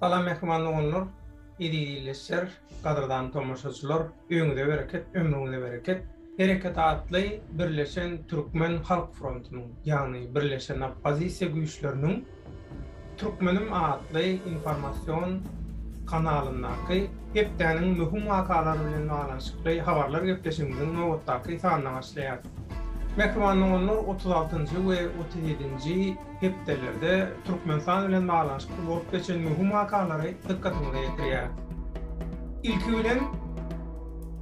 Salam mähriban doganlar, eziz ildeşler, gadyrdan tomaşaçylar, öňüňize bereket, ömrüňize bereket. Hereket atly Birleşen Türkmen Halk Frontunyň, ýagny Birleşen Oppozisiýa güýçleriniň Türkmenim atly informasion kanalyndaky hepdäniň möhüm wakalary bilen baglanyşykly habarlar gepleşigimiziň nobatdaky sanyna başlaýarys. Mähriban doganlar, otuz altynjy we otuz ýedinji hepdelerde Türkmenistan bilen baglanyşykly bolup geçen möhüm wakalary dykgatyňyza ýetirýäris. Ilki bilen,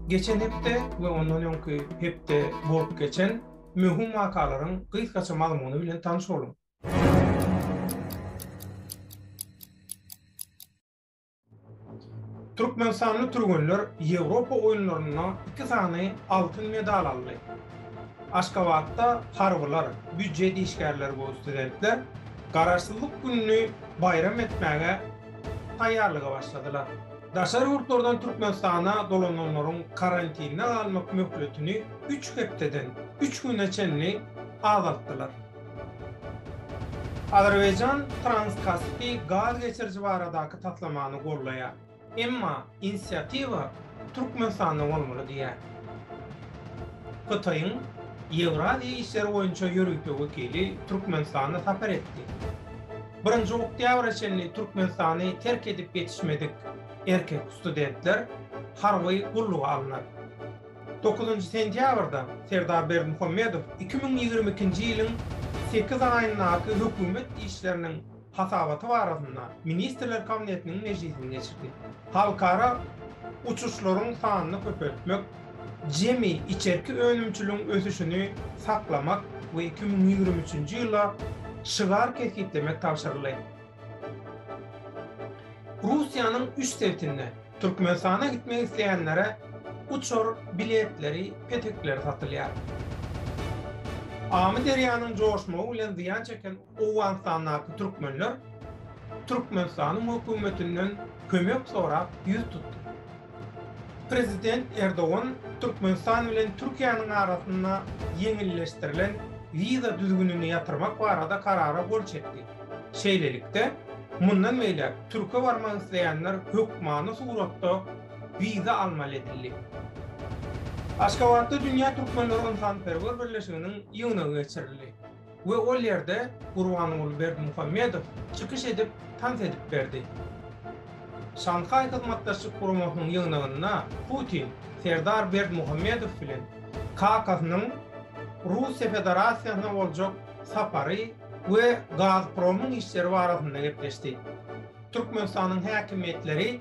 geçen hepde we ondan öňki hepde bolup geçen möhüm wakalaryň gysgaça mazmuny bilen tanyş boluň. Türkmenistanly türgenler Ýewropa oýunlarynda iki sany altyn medal aldy. Aşgabatda harbylar, býujet işgärleri we studentler Garaşsyzlyk gününi baýram etmäge taýýarlyga başladylar. Daşary ýurtlardan Türkmenistana dolananlaryň karantinde galmak möhletini üç hepdeden üç güne çenli azaltdylar. Azerbaýjan Trans-Kaspi gaz geçiriji baradaky taslamany goldaýar, emma inisiatiwa Türkmenistanda bolmaly diýýär. Hytaýyň Ýewraziýa işleri boýunça ýörite wekili Türkmenistana sapar etdi. Birinji oktýabra çenli Türkmenistany terk edip ýetişmedik erkek studentler harby gulluga alnar. Dokuzynjy sentýabrda Serdar Berdimuhamedow iki müň ýigrimi ikinji ýylyň sekiz aýyndaky hökümet işleriniň hasabaty barasynda Ministrler Kabinetiniň mejlisini geçirdi. Halkara uçuşlaryň sanyny köpeltmek, jemi içerki önümçiligiň ösüşini saklamak we iki müň ýigrimi üçünji ýyla şygar kesgitlemek tabşyryldy. Russiýanyň üç sebtinde Türkmenistana gitmek isleýänlere uçar biletleri petekleri satylýar. Amyderýanyň joşmagy bilen zyýan çeken Owganystandaky türkmenler Türkmenistanyň hökümetinden kömek sorap ýüz tutdy. Prezident Erdogan Türkmenistan bilen Türkiýäniň arasynda ýeňilleşdirilen wiza düzgünini ýatyrmak barada karara gol çekdi. Şeýlelikde, mundan beýläk türke barmak isleýänler hökmany suratda wiza almaly edildi. Aşgabatda Dünýä Türkmenleri ynsanperwer birleşiginiň ýygnagy geçirildi we ol ýerde Gurbanguly Berdimuhamedow çykyş edip, tans edip berdi. Şanhaý Hyzmatdaşlyk Guramasynyň ýygnagynda Putin Serdar Berdimuhamedow bilen kakasynyň Rus Federasiýasyna boljak sapary we Gazpromyň işleri barasynda gepleşdi. Türkmenistanyň häkimiýetleri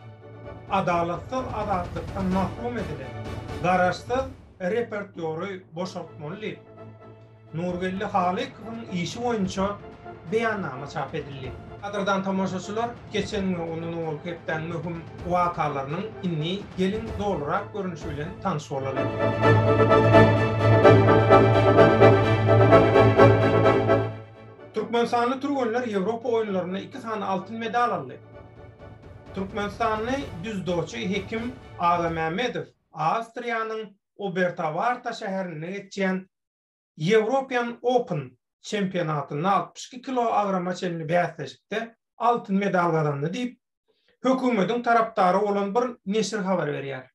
adalatsyz azatlykdan mahrum edilen garaşsyz reportýory boşaltmaly diýip, Nurgeldi Halykowyň işi boýunça beýannama çap edildi. Gadyrdan tomaşaçylar! Geçen we ondan owalky hepdäň möhüm wakalarynyň indi geliň dolurak görnüşi bilen tanyş bolalyň. Türkmenistanly türgenler Ýewropa oýunlarynda iki sany altyn medal aldy. Türkmenistanly düzdoçy Hekim Agamämmedow Awstriýanyň Obertawarta şäherinde geçýän European Open çempionatynda altmyş iki kiloagrama çenli bäsleşikde altyn medal gazandy diýip, hökümetiň tarapdary bolan bir neşir habar berýär.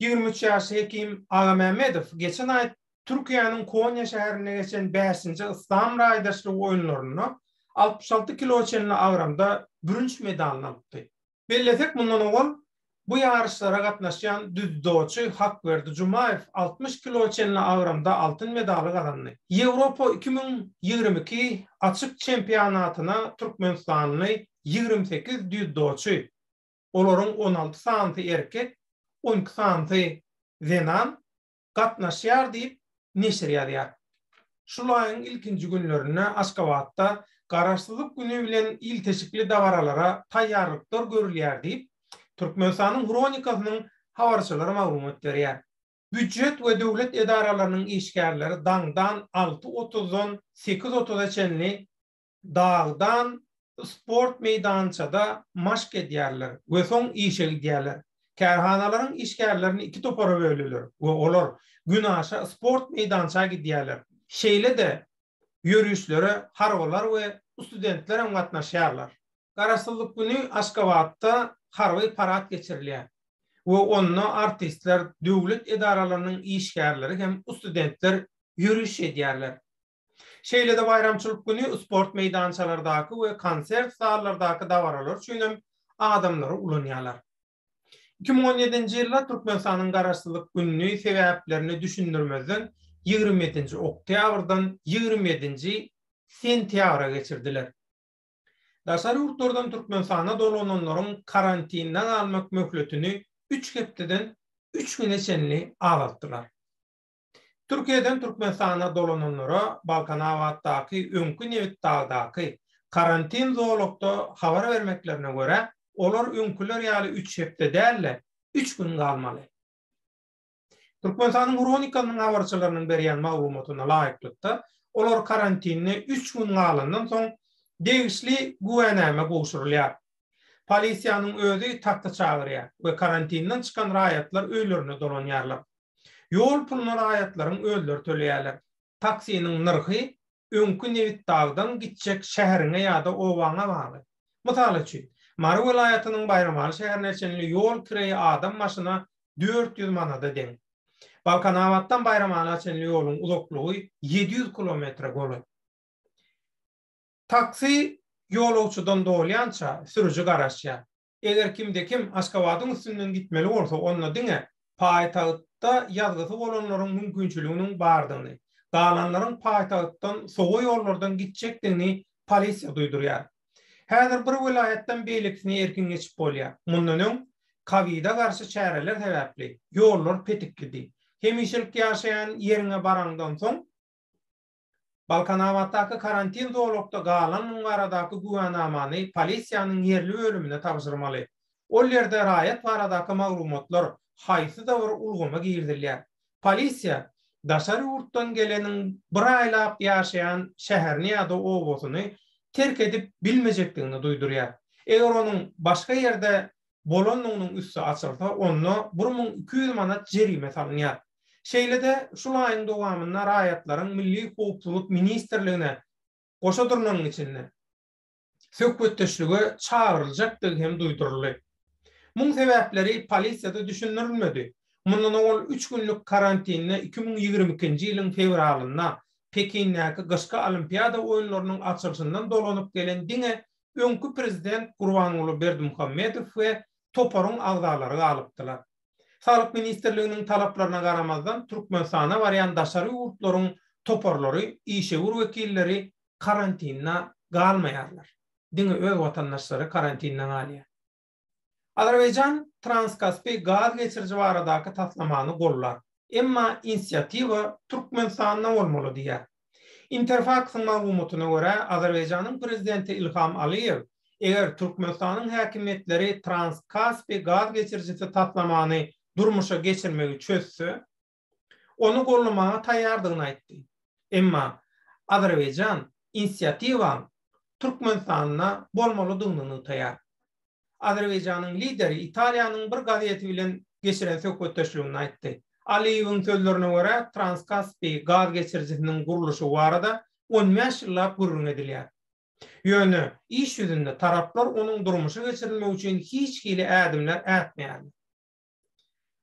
Ýigrimi üç ýaşly Hekim Agamämmedow geçen aý Türkiýäniň Konýa şäherinde geçen bäşinji Yslam raýdaşlygy oýunlarynda altmyş alty kilo çenli agramda bürünç medalyny alypdy. Bellesek, mundan ozal bu ýaryşlara gatnaşýan düzdoçy Hakberdi Jumaýew altmyş kilo çenli agramda altyn medaly gazandy. Ýewropa iki müň ýigrimi iki açyk çempionatyna türkmenistanly ýigrimi sekiz düzdoçy, olaryň on alty sanysy erkek, on iki sanysy zenan, gatnaşýar diýip, neşir ýazýar. Şul aýyň ilkinji günlerinde Aşgabatda Garaşsyzlyk güni bilen ilteşikli dabaralara taýýarlyklar görülýär diýip, Türkmenistanyň Hronikasynyň habarçylary maglumat berýär. Býujet we döwlet edaralarynyň işgärleri daňdan alty otuzdan sekiz otuza çenli dagdan sport meýdançada maşk edýärler we soň işe gidýärler. Kärhanalaryň işgärlerini iki topara bölüler we olar günaşa sport meýdança gidýärler. Şeýle-de ýörişlere harbylar we studentler hem gatnaşýarlar. Garaşsyzlyk güni Aşgabatda harby parad geçirilýär we onda artistler, döwlet edaralarynyň işgärleri hem studentler ýöriş edýärler. Şeýle-de baýramçylyk güni sport meýdançalardaky we konsert zallardaky dabaralar üçin hem adamlary ulanýarlar. Iki müň on ýedinji ýylda Türkmenistanyň Garaşsyzlyk gününi sebäplerini düşündirmezden ýigrimi ýedinji oktýabrdan ýigrimi ýedinji sentýabra geçirdiler. Daşary ýurtlardan Türkmenistana dolananlaryň karantinde galmak möhletini üç hepdeden üç güne çenli azaltdylar. Türkiýeden Türkmenistana dolananlara Balkanabatdaky öňki Nebitdagdaky karantin zolakda habar bermeklerine görä, olar öňküler ýaly üç hepde däl-de, üç gün galmaly. Türkmenistanyň Hronikanyň habarçylarynyň berýän maglumatyna laýyklykda, olar karantinde üç gün galandan soň, degişli güwänäme gowşurylýar. Polisiýanyň özi takta çagyrýar we karantinden çykan raýatlar öýlerine dolanýarlar. Ýol puluny raýatlaryň özleri töleýärler. Taksiniň nyrhy öňki Nebitdagdan gitjek şäheriňe ýa-da obaňa bagly. Mysal üçin, Mary welaýatynyň Baýramaly şäherine çenli ýol kireýi adam başyna dört ýüz manada deň. Balkanabatdan Baýramala çenli ýoluň uzaklygy ýedi ýüz kilometre golaý. Taksi ýolagçydan dolýança, sürüji garaşýar. Eger kimde-kim Aşgabadyň üstünden gitmeli bolsa, onda diňe paýtagtda ýazgysy bolanlaryň mümkinçiliginiň bardygyny, galanlaryň paýtagtdan sowa ýollardan gitjekdigini polisiýa duýdurýar. Häzir bir welaýatdan beýlekisine erkin geçip bolýar. Mundan öň, kowida garşy çäreler sebäpli, ýollar petiklidi. Hemişelik ýaşaýan ýeriňe baraňdan soň, Balkanabatdaky karantin zolakda galanlygy baradaky güwänamany polisiýanyň ýerli bölümine tabşyrmaly. Ol ýerde raýat baradaky maglumatlar haýsyda bir ulgama girizilýär. Polisiýa daşary ýurtdan geleniň bir aýlap ýaşaýan şäherini ýa-da obasyny terk edip bilmejekdigini duýdurýar. Eger onuň başga ýerde bolandygynyň üsti açylsa, onda bir müň iki ýüz manat jerime salynýar. Şeýle-de, şul aýyň dowamynda raýatlaryň Milli howpsuzlyk ministrligine goşa durnagyň içinde söhbetdeşlige çagyryljakdygy hem duýduryldy. Muň sebäpleri polisiýada düşündirilmedi. Mundan owal üç günlük karantinde iki müň ýigrimi ikinji ýylyň fewralynda Pekindäki Gyşky Olimpiada oýunlarynyň açylyşyndan dolanyp gelen diňe öňki prezident Gurbanguly Berdimuhamedow we toparyň agzalary galypdylar. Saglyk ministrliginiň talaplaryna garamazdan Türkmenistana barýan daşary ýurtlaryň toparlary, işewür wekilleri karantinde galmaýarlar. Diňe öz watandaşlary karantinde galýar. Azerbaýjan Transkaspi gaz geçiriji baradaky taslamany gollar, emma inisiatiwa Türkmenistanda bolmaly diýýär. Interfaks-yň maglumatyna görä, Azerbaýjanyň prezidenti Ilham Aliýew, eger Türkmenistanyň häkimiýetleri Transkaspi gaz geçirijisi taslamany durmuşa geçirmegi çözse, ony gollamaga taýýardygyny aýtdy. Emma Azerbaýjan inisiatiwaň Türkmenistanda bolmalydygyny nygtaýar. Azerbaýjanyň lideri Italiýanyň bir gazeti bilen geçiren söhbetdeşliginde aýtdy. Aliýewiň sözlerine görä, Transkaspi gaz geçirijisiniň gurluşygy barada on bäş ýyllap gürrüň edilýär. Ýöne iş ýüzünde taraplar onuň durmuşa geçirilmegi üçin hiç hili ädimler ätmeýärler.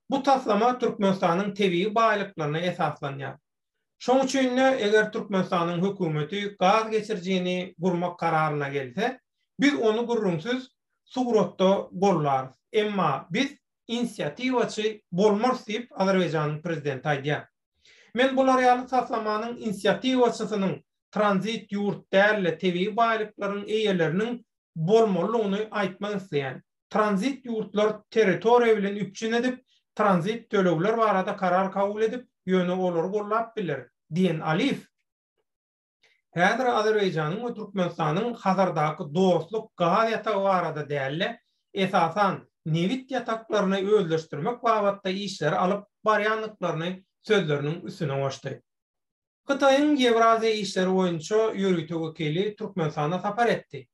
Bu taslama Türkmenistanyň tebigy baýlyklaryna esaslanýar. Şonuň üçin-de, eger Türkmenistanyň hökümeti gaz geçirijini gurmak kararyna gelse, biz ony gürrüňsiz suratda gollarys. Emma biz inisiatiwaçy bolmarys diýip, Azerbaýjanyň prezidenti aýdýar. Men bular ýaly taslamanyň inisiatiwaçysynyň tranzit ýurt däl-de, tebigy baýlyklaryň eýeleriniň bolmalydygyny aýtmak isleýän. tranzit ýurtlar territoriýa bilen üpjün edip, tranzit tölegler barada karar kabul edip, ýöne olary gollap biler, diýen Aliýew, Häzir Azerbaýjanyň we Türkmenistanyň Hazardaky dostluk gaz ýatagy barada däl-de, esasan, nebit ýataklaryny özleşdirmek babatda işleri alyp barýandyklaryny sözleriniň üstüne goşdy. Hytaýyň Ýewraziýa işleri boýunça ýörite wekili Türkmenistana sapar etdi.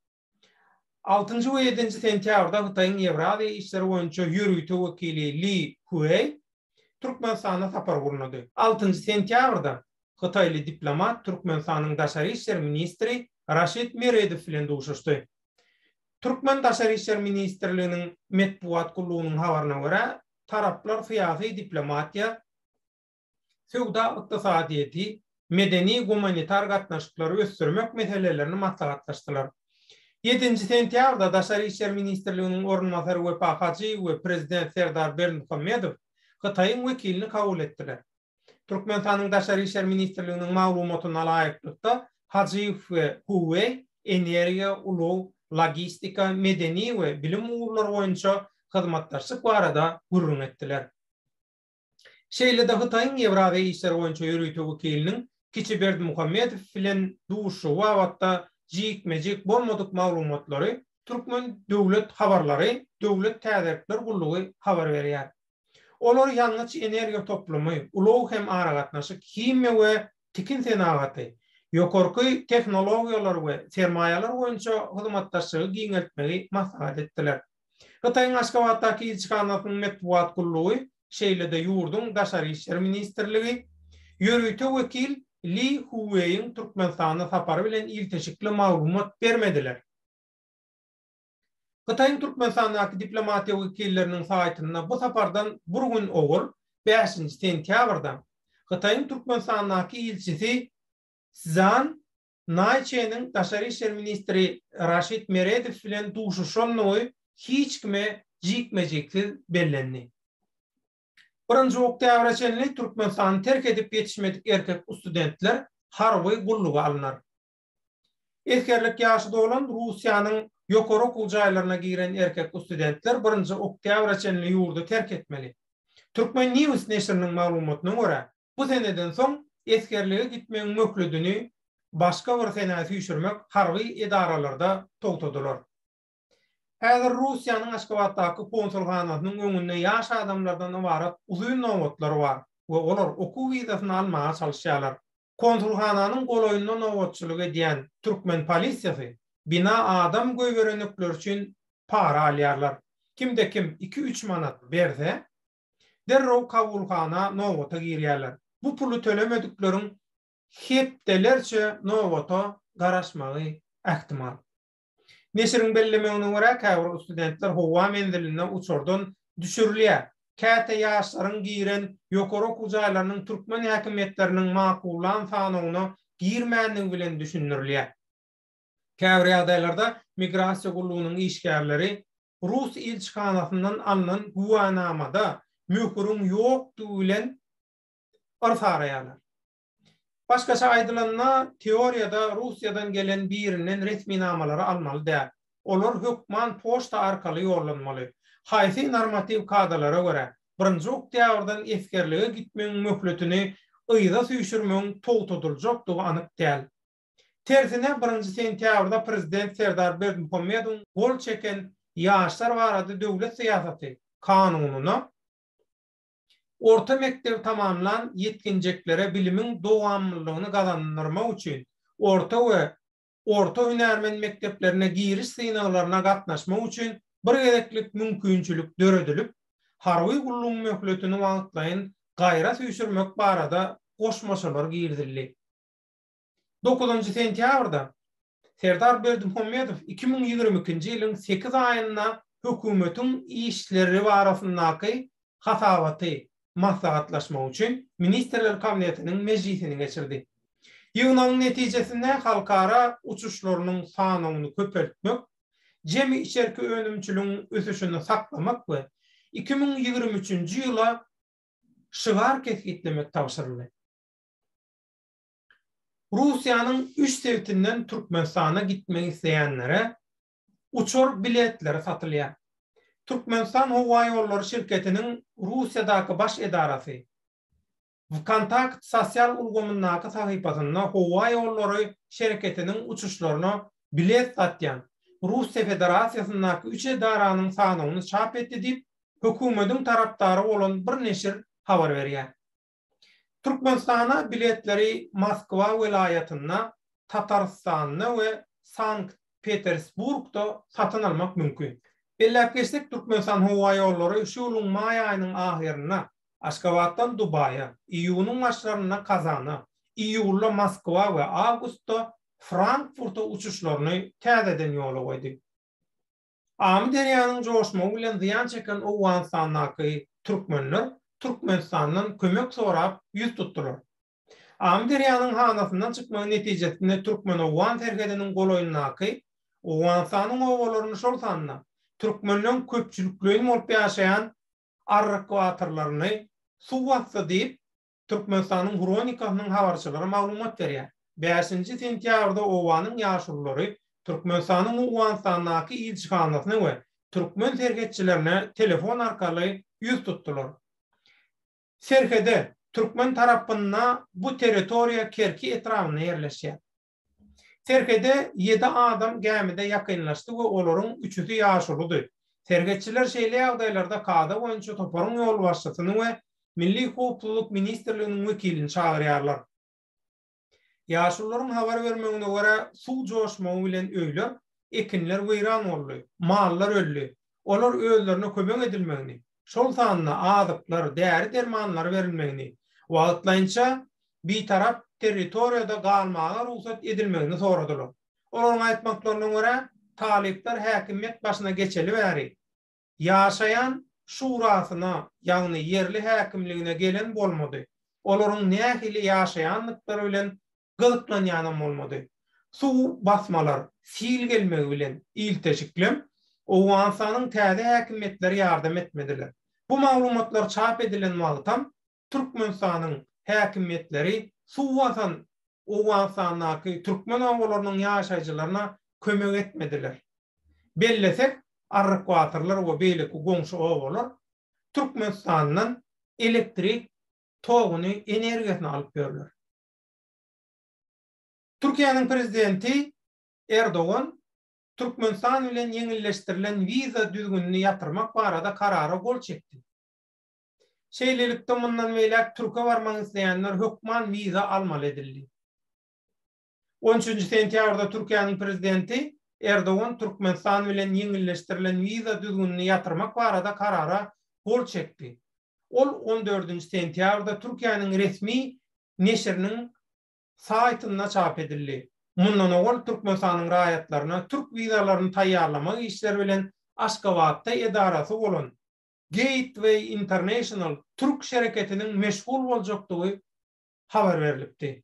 Altynjy we ýedinji sentýabrda Hytaýyň Ýewraziýa işleri boýunça ýörite wekili Li Hueý Türkmenistana sapar gurnady. Altynjy sentýabrda hytaýly diplomat Türkmenistanyň daşary işler ministri Raşid Meredow bilen duşuşdy. Türkmen daşary işler ministrliginiň metbugat gullugynyň habaryna görä, taraplar syýasy diplomatiýa, söwda-ykdysadyýeti, medeni-gumanitar gatnaşyklary ösdürmek meselelerini maslahatlaşdylar. Ýedinji sentýabrda Daşary işler ministrliginiň orunbasary Wepa Hajyýew we Prezident Serdar Berdimuhamedow Hytaýyň wekilini kabul etdiler. Türkmenistanyň Daşary işler ministrliginiň maglumatyna laýyklykda, Hajyýew we Hu Weý energiýa, ulag, logistika, medeni we bilim ugurlary boýunça hyzmatdaşlyk barada gürrüň etdiler. Şeýle-de Hytaýyň Ýewraziýa işleri boýunça ýörite wekiliniň Kiçi Berdimuhamedow bilen duşuşygy babatda jikme-jik bolmadyk maglumatlary Türkmen döwlet habarlary döwlet täzelikler gullugy habar berýär. Olar ýangyç-energiýa toplumy, ulag hem aragatnaşyk, himiýa we tikin senagaty, ýokarky tehnologiýalar we sermaýalar boýunça hyzmatdaşlygy giňeltmegi maslahat etdiler. Hytaýyň Aşgabatdaky ilçihanasynyň metbugat gullugy, şeýle-de ýurduň Daşary işler ministrligi, ýörite wekil Li Huweýiň Türkmenistana sapary bilen ilteşikli maglumat bermediler. Hytaýyň Türkmenistandaky diplomatiýa wekilleriniň saýtynda bu sapardan bir gün owal, bäşinji sentýabrda, Hytaýyň Türkmenistandaky ilçisi Szan Naý Çeniň daşary işler ministri Raşid Meredow bilen duşuşandygy hiç kime jikme-jiksiz bellendi. Birinji oktýabra çenli Türkmenistany terk edip ýetişmedik erkek ustudentler harby gulluga alnar. Esgerlik ýaşy dolan Russiýanyň ýokary okuw jaýlaryna giren erkek ustudentler birinji oktýabra çenli ýurdy terk etmeli. Turkmen. News neşiriniň maglumatyna görä, Bu seneden soň esgerlige gitmegiň möhledini başga bir senä süýşürmek harby edaralarda togtadylar. Häzir Russiýanyň Aşgabatdaky konsulhanasynyň öňünde ýaş adamlardan ybarat uzyn nobatlar bar we olar okuw wizasyny almaga çalyşýarlar. Konsulhananyň golaýynda nobatçylyk edýän türkmen polisiýasy bina adam goýberenlikleri üçin para alýarlar. Kimde-kim iki-üç manat berse, derrew kabulhana nobata girýärler. Bu puly tölemedikleriň hepdelerçe nobata garaşmagy ähtimal. Neşiriň bellemegine görä, käbir studentler howa menziline uçardan düşürilýär. Käte ýaşlaryň giren ýokary okuw jaýlarynyň türkmen häkimiýetleriniň makullan sanawyna girmändigi bilen düşündirilýär. Käbir ýagdaýlarda migrasiýa gullugynyň işgärleri rus ilçihanasyndan alnan güwänamada möhüriň ýokdugy bilen yrs araýarlar. Başgaça aýdylanda, teoriýada Russiýadan gelen birinden resminamalary almaly däl. Olar hökman poçta arkaly ýollanmaly. Haýsy normatiw kadalara görä, birinji oktýabrdan esgerlige gitmegiň möhletini yza süýşürmegiň togtadyljakdygy anyk däl. Tersine, birinji sentýabrda prezident Serdar Berdimuhamedowyň gol çeken Ýaşlar barada döwlet syýasaty kanunyna orta mekdebi tamamlan ýetginjeklere bilimiň dowamlylygyny gazandyrmak üçin orta we orta hünärmen mekdeplerine giriş synaglaryna gatnaşmak üçin bir gezeklik mümkinçilik döredilip, harby gullugyň möhletini wagtlaýyn gaýra süýşürmek barada goşmaçalar girizildi. Dokuzynjy sentýabrda Serdar Berdimuhamedow iki müň ýigrimi ikinji ýylyň sekiz aýynda hökümetiň işleri barasyndaky hasabaty maslahatlaşmak üçin Ministrler Kabinetiniň mejlisini geçirdi. Ýygnagyň netijesinde halkara uçuşlarynyň sanawyny köpeltmek, jemi içerki önümçiligiň ösüşini saklamak we iki müň ýigrimi üçünji ýyla şygar kesgitlemek tabşyryldy. Russiýanyň üç sebitinden Türkmenistana gitmek isleýänlere uçar biletleri satylýar. Türkmenistan howa ýollary şirketiniň Russiýadaky baş edarasy WKontakt sosial ulgamyndaky sahypasynda howa ýollary şereketiniň uçuşlaryna bilet satýan Russiýa Federasiýasyndaky üç edaranyň sanawyny çap etdi diýip, hökümediň tarapdary bolan bir neşir habar berýär. Türkmenistana biletleri Moskwa welaýatynda, Tatarystanda we Sankt Petersburgda satyn almak mümkin. Belläp geçsek, Türkmenistanhowaýollary şu ýylyň maý aýynyň ahyrynda Aşgabatdan Dubaýa, iýunyň başlarynda Kazana, iýulda Moskwa we awgustda Frankfurta uçuşlaryny täzeden ýola goýdy. Amyderýanyň joşmagy bilen zyýan çeken Owganystandaky türkmenler Türkmenistandan kömek sorap ýüz tutdular. Amyderýanyň hanasyndan çykmagy netijesinde türkmen-owgan serhediniň golaýyndaky Owganystanyň obalaryny şol sanda türkmenleň köpçülikleýin bolup ýaşaýan arrykwatorlaryny suw basdy diýip, Türkmenistanyň Hronikasynyň habarçylary maglumat berýär. Bäşinji sentýabrda obanyň ýaşululary Türkmenistanyň Owganystandaky ilçihanasyna we türkmen serhetçilerine telefon arkaly ýüz tutdular. Serhede, türkmen tarapynda bu territoriýa Kerki etrabynda ýerleşýär. Serhede ýedi adam gämide ýakynlaşdy we olaryň üçüsi ýaşuludy. Serhetçiler şeýle ýagdaýlarda kada boýunça toparyň ýolbaşçysyny we Milli howpsuzlyk ministrliginiň wekilini çagyrýarlar. Ýaşulularyň habar bermegine görä, suw joşmagy bilen öýler, ekinler weýran boldy, mallar öldi. Olar özlerine kömek edilmegini, şol sanda azyklar, däri-dermanlar berilmegini, wagtlaýynça Bitarap territoriýada galmaga rugsat edilmegini soradylar. Olaryň aýtmaklaryna görä, talyplar häkimiýet başyna geçeli bäri, ýaşaýan Şurasyna, ýagny ýerli häkimligine gelen bolmady. Olaryň nähili ýaşaýandyklary bilen gyzyklanýanam bolmady. Suw basmalar, sil gelmegi bilen ilteşiklem Owganystanyň täze häkimiýetleri ýardam etmediler. Bu maglumatlar çap edilen wagtam Türkmenistanyň häkimiýetleri suw basan Owganystandaky türkmen obalarynyň ýaşaýjylaryna kömek etmediler. Bellesek, Arryk Batyrlar we beýleki goňşy obalar Türkmenistandan elektrik toguny, energiýasyny alyp ýörler. Türkiýäniň Prezidenti Erdogan Türkmenistan bilen ýeňilleşdirilen wiza düzgünini ýatyrmak barada karara gol çekdi. Şeýlelikde mundan beýläk Türkiýe barmak isleýänler hökman wiza almaly edildi. On üçünji sentýabrda Türkiýäniň Prezidenti Erdogan Türkmenistan bilen ýeňilleşdirilen wiza düzgünini ýatyrmak barada karara gol çekdi. Ol on dördünji sentýabrda Türkiýäniň resmi neşiriniň saýtynda çap edildi. Mundan owal Türkmenistanyň raýatlaryna türk wizalaryny taýýarlamak işleri bilen Aşgabatda edarasy bolan Gateway International türk şereketiniň meşgul boljakdygy habar berlipdi.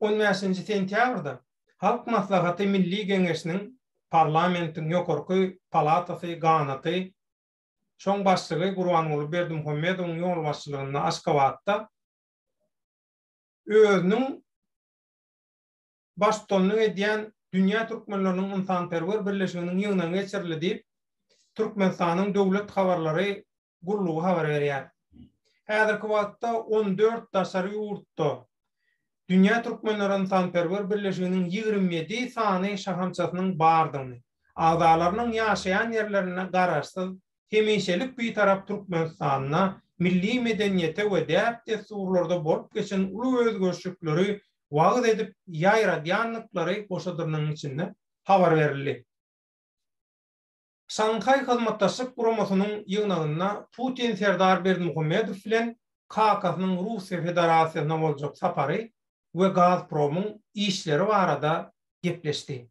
On bäşinji sentýabrda Halk Maslahaty Milli Geňeşiniň Parlamentiň ýokarky palatasy ganaty, şoň başlygy Gurbanguly Berdimuhamedowyň ýolbaşçylygynda Aşgabatda özüniň baştutanlyk edýän Dünýä türkmenleriniň ynsanperwer birleşiginiň ýygnagy geçirildi diýip, Türkmenistanyň Döwlet habarlary gullugy habar berýär. Häzirki wagtda on dört daşary ýurtda Dünýä türkmenleri ynsanperwer birleşiginiň ýigrimi ýedi sany şahamçasynyň bardygyny, agzalarynyň ýaşaýan ýerlerinde garaşsyz hemişelik Bitarap Türkmenistanda milli medeniýete we däp-dessurlarda bolup geçen uly özgerişlikleri wagyz edip ýaýradýandyklary goşadynyň içinde habar berildi. Şanhaý Hyzmatdaşlyk Guramasynyň ýygnagynda Putin Serdar Berdimuhamedow bilen kakasynyň Russiýa Federasiýasyna boljak sapary we Gazpromyň işleri barada gepleşdi.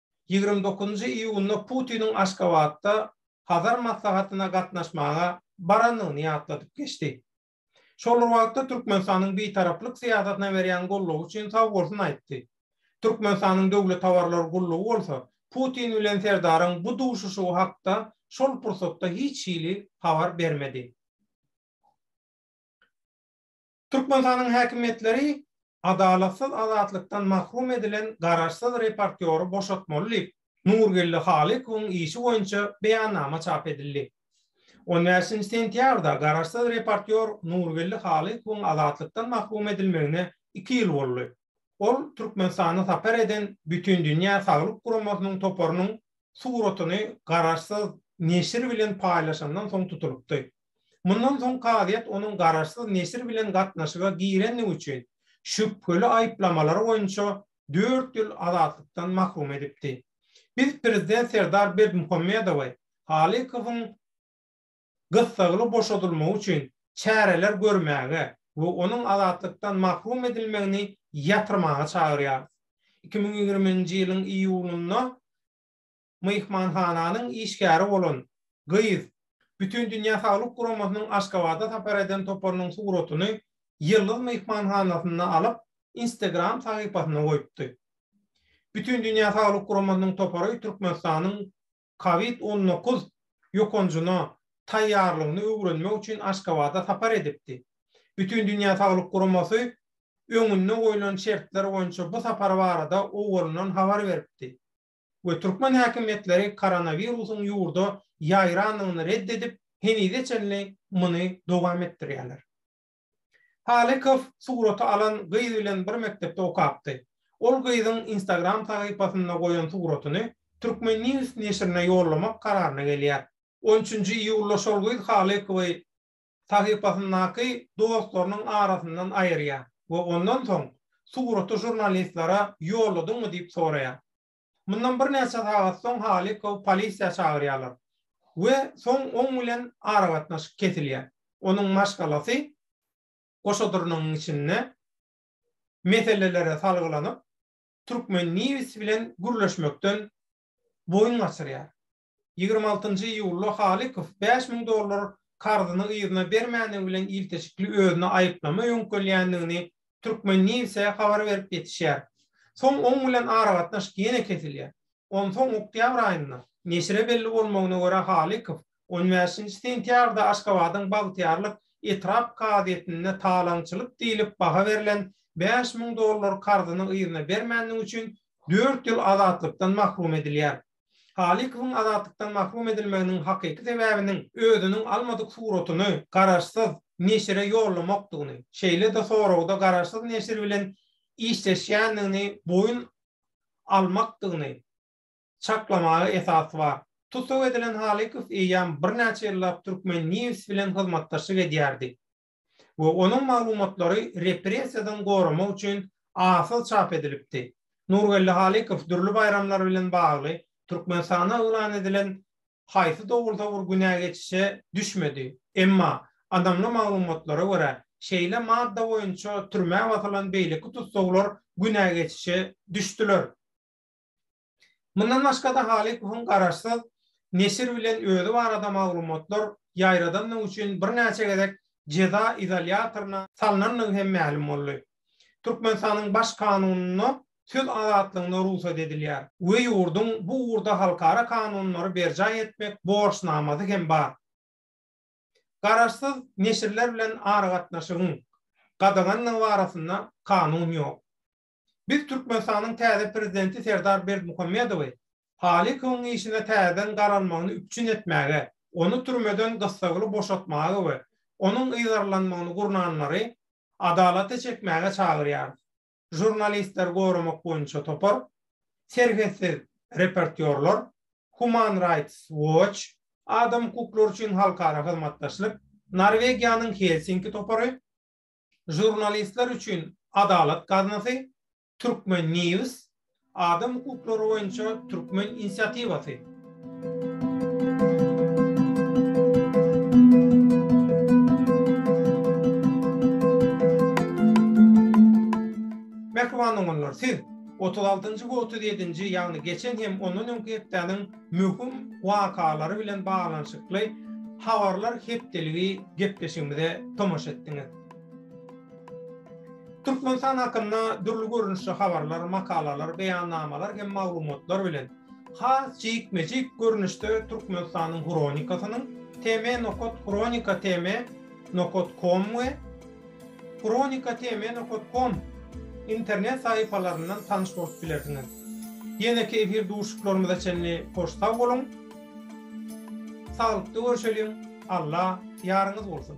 ýigrimi dokuzynjy iýunda Putiniň Aşgabatda Hazar maslahatyna gatnaşmaga barandygyny ýatladyp geçdi. Şol bir wagtda Türkmenistanyň Bitaraplyk syýasatyna berýän goldawy üçin sag bolsun aýtdy. Türkmenistanyň Döwlet habarlar gullugy bolsa Putin bilen Serdaryň bu duşuşygy hakda şol pursatda hiç hili habar bermedi. Türkmenistanyň häkimiýetleri adalatsyz azatlykdan mahrum edilen garaşsyz reportýory boşatmaly diýip, Nurgeldi Halykowyň işi boýunça beýannama çap edildi. On bäşinji sentýabrda garaşsyz reportýor Nurgeldi Halykowyň azatlykdan mahrum edilmegine iki ýyl boldy. Ol Türkmenistana sapar eden Bütindünýä saglyk guramasynyň toparynyň suratyny garaşsyz neşir bilen paýlaşandan soň tutulypdy. Mundan soň kazyýet onuň garaşsyz neşir bilen gatnaşyga girendigi üçin şübheli aýyplamalar boýunça dört ýyl azatlykdan mahrum edipdi. Biz prezident Serdar Berdimuhamedowy Halykowyň gyssagly boşadylmagy üçin çäreler görmäge we onuň azatlykdan mahrum edilmegini ýatyrmaga çagyrýarys. Iki müň ýigrimi nji ýylyň iýulynda myhmanhananyň işgäri bolan gyz Bütindünýä saglyk guramasynyň Aşgabada sapar eden toparynyň suratyny Ýyldyz myhmanhanasynda alyp, Instagram sahypasyna goýupdy. Bütindünýä saglyk guramasynyň topary Türkmenistanyň Covid on dokuz ýokanjyna taýýarlygyny öwrenmek üçin Aşgabada sapar edipdi. Bütindünýä saglyk guramasy öňünde goýlan şertler boýunça bu sapar barada owalyndan habar beripdi. we türkmen häkimiýetleri koronawirusyň ýurda ýaýrandygyny red edip, henize çenli muny dowam etdirýärler. Halykow suraty alan gyz bilen bir mekdepde okapdy. Ol gyzyň Instagram sahypasynda goýan suratyny Turkmen News neşirine ýollamak kararyna gelýär. On üçünji iýulda şol gyz Halykowy sahypasyndaky dostlarynyň arasyndan aýyrýar we ondan soň suraty žurnalistlere ýolladyňmy diýip soraýar. Mundan birnäçe sagat soň Halikowy polisiýa çagyrýarlar we soň oň bilen aragatnaşyk kesilýär. Onuň maşgalasy goşadyrnygyň içinde meselelere salgylanyp, Türkmen News bilen gürleşmekden boýun gaçyrýar. Ýigrimi altynjy iýulda Halykow bäş müň dollar karzyny yzyna bermändigi bilen ilteşikli özüne aýyplama öňkölýändigini Turkmen. News-e habar berip ýetişýär. Soň oň bilen aragatnaşyk ýene kesilýär. Onsoň oktýabr aýynda, neşire belli bolmagyna görä, Halykow on bäşinji sentýabrda Aşgabadyň Bagtyýarlyk etrap kazyýetinde talaňçylyk diýlip baha berlen bäş müň dollar karzyny yzyna bermändigi üçin dört ýyl azatlykdan mahrum edilýär. Halykowyň azatlykdan mahrum edilmeginiň hakyky sebäbiniň özüniň almadyk suratyny garaşsyz neşire ýollamakdygyny, şeýle-de soragda garaşsyz neşir bilen işleşýändigini boýun almakdygyny çaklamaga esas bar. Tussag edilen Halykow eýýäm birnäçe ýyllap Türkmen News bilen hyzmatdaşlyk edýärdi. we onuň maglumatlary repressiýadan goramak üçin arsyz çap edilipdi. Nurgeldi Halykow dürli baýramlar bilen bagly Türkmenistanda yglan edilen haýsy dogrusa bir günä geçişe düşmedi. Emma, ynamly maglumatlara görä, şeýle madda boýunça türmä basylan beýleki tussaglar günä geçişe düşdüler. Mundan başga-da Halykowyň garaşsyz neşir bilen özi barada maglumatlar ýaýradandygy üçin birnäçe gezek jeza izolýatoryna salnandygy hem mälim boldy. Türkmenistanyň Baş kanunynda söz azatlygyna rugsat edilýär we ýurduň bu ugurda halkara kanunlary berjaý etmek borçnamasy hem bar. Garaşsyz neşirler bilen aragatnaşygyň gadagandygy barasynda kanun ýok. Biz Türkmenistanyň täze Prezidenti Serdar Berdimuhamedowy Halykowyň işine täzeden garalmagyny üpjün etmäge, ony türmeden gyssagly boşatmaga we onuň yzarlanmagyny gurnanlary adalata çekmäge çagyrýarys. Žurnalistleri goramak boýunça topar, Serhetsiz reportýorlar, Human Rights Watch, Adam hukuklary üçin halkara hyzmatdaşlyk, Norwegiýanyň Helsinki topary, Žurnalistler üçin adalat gaznasy, Turkmen. News, Adam hukuklary boýunça türkmen inisiatiwasy. Mähriban doganlar, siz otuz altynjy we otuz ýedinji, ýagny geçen hem ondan öňki hepdäniň möhüm wakalary bilen baglanyşykly habarlar hepdeligi gepleşigimize tomaşa etdiňiz. Türkmenistan hakynda dürli görnüşli habarlar, makalalar, beýannamalar hem maglumatlar bilen has jikme-jik görnüşde Türkmenistanyň hronikasynyň tm. Hronika tm. Com we Kronika TM nokat kom internet sahypalaryndan tanyş bolup bilersiňiz. Ýeneki efir duşuşyklarymyza çenli hoş sag boluň. Saglykda görşeliň. Alla ýaryňyz bolsun.